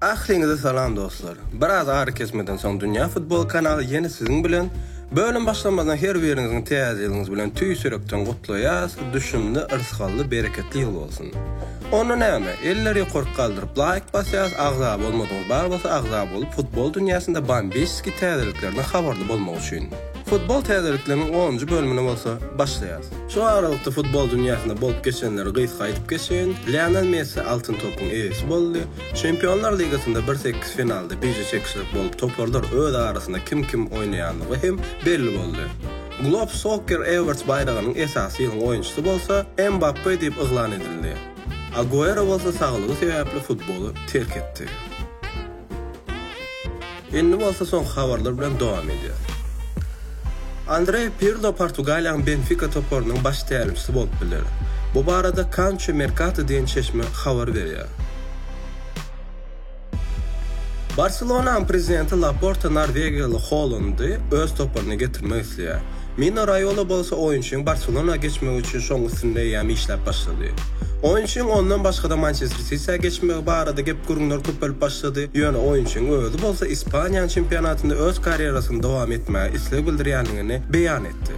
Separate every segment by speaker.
Speaker 1: Ahliňize salam dostlar. Biraz ara kesmeden soň Dünýä futbol kanaly ýene siziň bilen. Bölüm başlamazdan her biriňiziň täze ýylyňyz bilen tüýs ýürekden gutlaýas, düşümli, yrsgally, bereketli ýyl bolsun. Onda näme, eller ýokaryk galdyryp laýk basýas, agza bolmadyňyz bar bolsa agza bolup futbol dünýäsinde Bambeşski täzeliklerden habarly bolmak üçin. Futbol täzelikleriniň onunjy bölümine bolsa başlaýarys. Şu aralykda futbol dünýäsinde bolup geçenleri gysga aýdyp geçeýin. Lionel Messi Altyn topyň eýesi boldy. Çempionlar ligasynda bir sekiz finalda bije çekişlik bolup toparlar öz arasynda kim kim oýnaýandygy hem belli boldy. Globe Soccer Awards baýragynyň esasy ýylyň oýunçysy bolsa Mbappe diýip yglan edildi. Aguero bolsa saglygy sebäpli futboly terk etdi. Indi bolsa soňky habarlar bilen dowam edýäris. Andrea Pirlo Portugaliýanyň Benfika toparynyň baş tälimçisi bolup biler. Bu barada Kanço Merkato diýen çeşme habar berýär. Barselonanyň prezidenti Laporta norwegiýaly Holandy öz toparyna getirmek isleýär. Mino Raýola bolsa oýunçynyň Barselonaga geçmegi üçin şoň üstünde eýýäm işläp başlady. Oýunçynyň ondan başga-da Mançester Sityä geçmegi barada gep-gürrüňler köpelip başlady, ýöne oýunçynyň özi bolsa Ispaniýanyň çempionatynda öz karýerasyny dowam etmäge isleg bildirýändigini beýan etdi.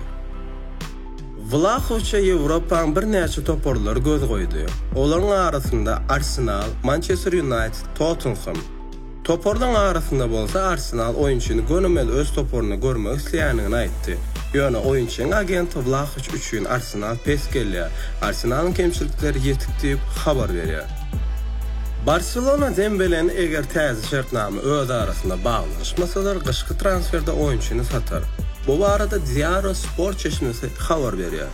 Speaker 1: Wlahowiçe Ýewropanyň birnäçe toparlary göz goýdy. Olaryň arasynda Arsenal, Mançester Ýunaýted, Tottenhem. Toparlaryň arasynda bolsa Arsenal oýunçyny gönümel öz toparynda görmek isleýändigini aýtdy. Ýöne oýunçynyň agenti Wlahowiç üçin Arsenal pes gelýär. Arsenalyň kemçilikleri ýetik diýip, habar berýär. Barselona Dembeleni eger täze şertnama öz arasynda baglanyşmasalar, gyşky transferde oýunçyny satar. Bu barada Diario Sport çeşmesi habar berýär.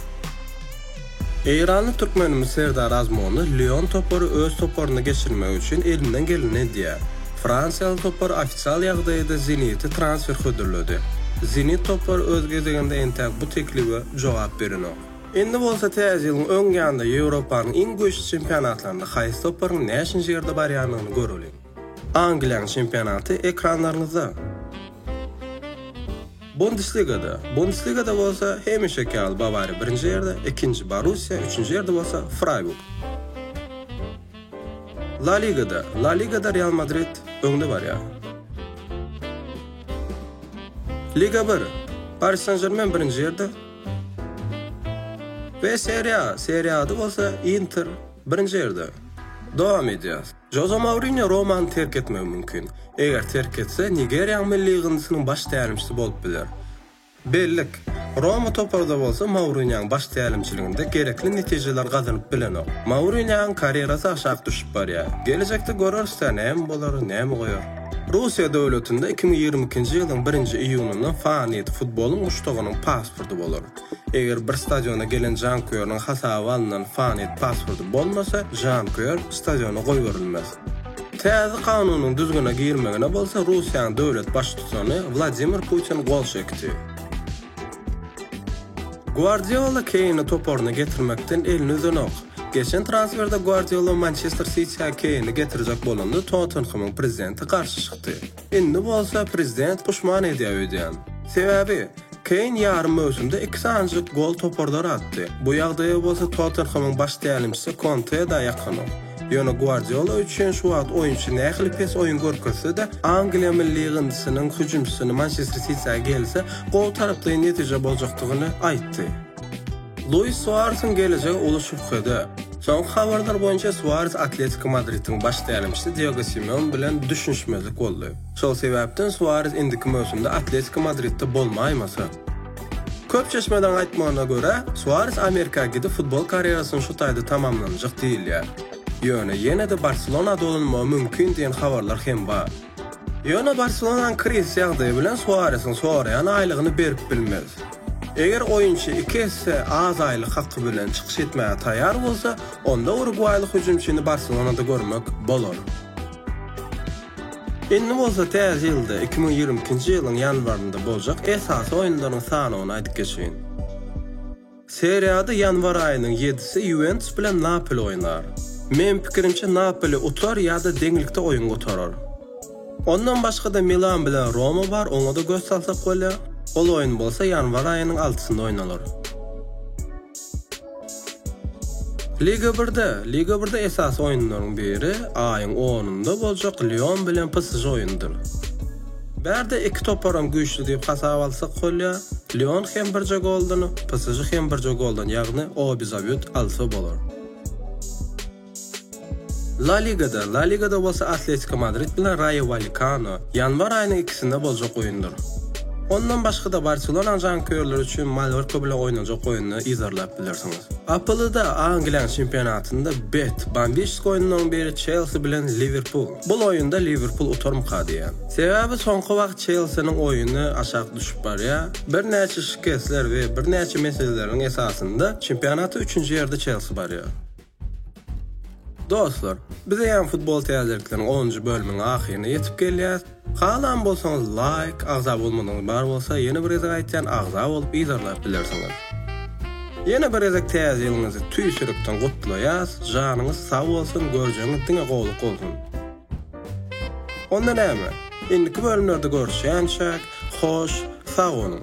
Speaker 1: Eýranly türkmenimiz Serdar Azmonow Lion topary öz toparynda geçirmek üçin elinden geleni edýär. Fransiýaly topar ofisial ýagdaýda Zeniti transfer hödürledi. Zenit topary öz gezeginde entäk bu teklibe jogap berenok. Indi bolsa täze ýylyň öň ýanynda Ýewropanyň iň güýçli çempionatlarynda haýsy toparyň näçinji ýerde barýandygyny göreliň. Angliýanyň çempionaty ekranlaryňyzda. Bundesligada. Bundesligada bolsa hemişeki ýaly Bawariýa birinji ýerde, ikinji Borussiýa, üçünji ýerde bolsa Fraýburg. La Ligada. La Ligada Real Madrid öňde barýar. Liga bir. Paris Sen-Žermen birinji ýerde. We Serie A. Serie A-da bolsa Inter birinji ýerde. Dowam edýäs. Joze Mourinýo Romany terk etmegi mümkin. Eger terk etse, Nigeriýanyň milli ýygyndysynyň baş tälimçisi bolup biler. Bellik, Roma topary-da bolsa Mourinýoň baş tälimçiliginde gerekli netijeleri gazanyp bilenok. Mourinýoň karýerasy aşak düşüp barýar. Gelejekde göreris-dä, näme bolar, näme goýar. Russiýa döwletinde iki müň ýigrimi ikinji ýylyň birinji iýunynda Faniýt futbolyň muşdagynyň pasporty bolar. Eger bir stadiona gelen janköýeriniň hasaba alnan Fanet passwordy bolmasa, janköýer stadiona goýberilmez. Täze kanunyň düzgüne girmegine bolsa Russiýanyň döwlet baştutany Wladimir Putin gol çekdi. Guardiola Keýni toparyna getirmekden elini üzenok. Geçen transferde Guardiola Mançester Sitiä Keýni getirjek bolanda Tottenhemyň prezidenti garşy çykdy. Indi bolsa prezident puşman edýär öýdýän. Sebäbi, Keýn ýarym möwsümde iki sanajyk gol toparlara atdy. Bu ýagdaýa bolsa Tottenhemyň baş tälimçisi Konte-de ýakanok. Ýöne Guardiola üçin şu wagt oýunçy nähili pes oýun görkezse-de, Angliýa milli ýygyndysynyň hüjümçisini Mançester Sitiä gelse, gowy taraplaýyn netije boljakdygyny aýtdy. Luis Suaresiň gelejegi uly şübhede. Soňky habarlar boýunça Suares Atletiko Madridiň baş tälimçisi Diego Simeone bilen düşünişmezlik boldy. Şol sebäpden Suares indiki möwsümde Atletiko Madridde bolmaýmasa. Köp çeşmeleriň aýtmagyna görä, Suares Amerika gidip futbol karýerasyny şu taýda tamamlanjak diýilýär. Ýöne ýene-de Barselona dolanmagy mümkin diýen habarlar hem bar. Ýöne Barselonanyň krizis ýagdaýy bilen Suaresiň soraýan aýlygyny berip bilmez. Eger oýunçy iki esse az aýlyk haky bilen çykyş etmäge taýýar bolsa, onda urugwaýly hüjümçini Barselonada görmek bolar. Indi bolsa täze ýylda, iki müň ýigrimi ikinji ýylyň ýanwarynda boljak esasy oýunlaryň sanawyny aýdyp geçeýin. Seriýada ýanwar aýynyň ýedisi Ýuwentus bilen Napoli oýnar. Meň pikirimçe Napoli utar ýa-da deňlikde oýun gutarar. Ondan başga-da Milan bilen Roma bar, oňa-da göz salsak bolýar. Ol oýun bolsa ýanwar aýynyň altysynda oýnalar. Liga Birde Liga Birde esasy oýunlaryň biri aýyň onunda boljak Lion bilen PSŽ oýnudyr. Bärde iki toparam güýçli diýip hasap alsak bolýa, Lyon hem birje goldan, PSJ hem birje goldan ýagny obizabýut alsa bolar. La Ligada La Ligada bolsa Atletiko Madrid bilen Raýo Walekano ýanwar aýynyň ikisinde boljak oýundyr. Ondan başga-da Barselonanyň janköýerleri üçin Mallorka bilen oýnanjak oýuny yzarlap bilersiňiz. APL-da Angliýanyň çempionatynda bet, Bambişsk oýunlaryň biri Çelsi bilen Liwerpul. Bul oýunda Liwerpul utarmyka diýýän. Sebäbi soňky wagt Çelsiniň oýuny aşak düşüp barýar. Birnäçe şikesler we birnäçe meseleleriň esasynda çempionatda üçünji ýerde Çelsi barýar. Dostlar, biz eýýäm futbol täzelikleriň onunjy bölümiň ahyryna ýetip gelýäs. Halan bolsaňyz laýk, agza bolmadygyňyz bar bolsa ýene bir gezek aýtýan agza bolup yzarlap bilersiňiz. Ýene bir gezek täze ýylyňyzy tüýsülikden gutlaýas, janyňyz sag bolsun, görjegiňiz diňe gowluk bolsun. Onda näme, indiki bölümlerde görüşýänçäk, hoş, sag boluň.